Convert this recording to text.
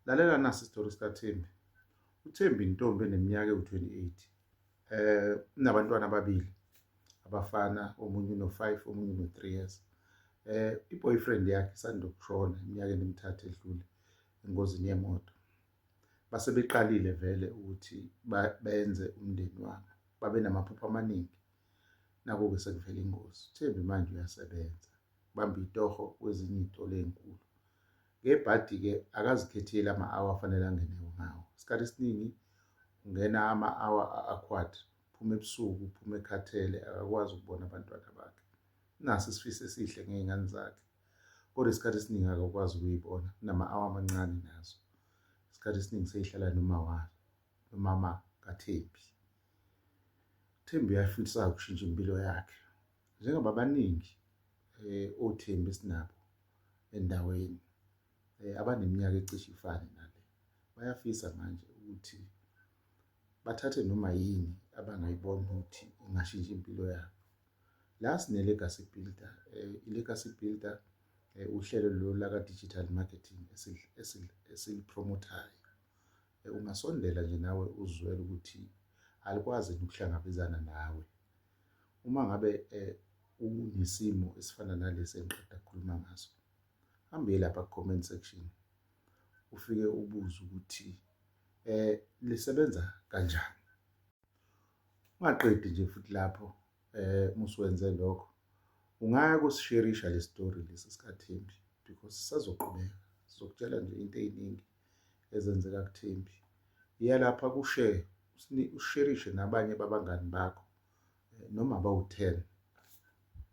Lalela nasi isitori sikaThembi. UThembi intombi eneminyaka ewu-28. Eh unabantwana ababili abafana omunye uno-5 omunye uno-3 years. Eh i-boyfriend yakhe isanda ukushona eminyakeni emithathu edlule engozini yemoto. Base beqalile vele ukuthi benze umndeni wabo. Babe namaphupho amaningi. Naku-ke sekuvela ingozi. UThembi manje uyasebenza. Bamba itoho kwezinye iy'tolo ey'nkulu. ngebhadi-ke akazikhetheli ama-awa afanele angene ngawo isikhathi esiningi ungena ama-awa a-aquad phuma ebusuku phuma ekhathele akakwazi ukubona abantwana bakhe naso isifiso esihle ngey'ngane zakhe kodwa isikhathi esiningi akakwazi ukuyibona kunama-awa amancane nazo isikhathi esiningi seyihlala noma wayo nomama kathembi thembi uyafisa ukushintsha impilo yakhe Njengoba abaningi eh, oThembi esinabo endaweni eh, abaneminyaka ecishe ifane nale bayafisa manje ukuthi bathathe noma yini abangayibona ukuthi ingashintsha impilo yabo la sine-legacy builder eh, i-legacy builder eh, uhlelo lolu laka-digital marketing esilipromothayo eh, ungasondela nje nawe uzwele ukuthi alikwazi ukuhlangabezana nawe Uma ngabe unesimo esifana nalesi engiqeda kukhuluma ngaso, hamba uye lapha ku-comment section, ufike ubuze ukuthi um lisebenza kanjani. Ungaqedi nje futhi lapho um musuwenze lokho, ungaya kusisherisha le story lesi sikaThembi because sisazoqhubeka, sizokutshela nje into ey'ningi. ezenzeka kuThembi. Yiya lapha ku-share, usherishe nabanye babangani bakho eh, noma bawu-ten.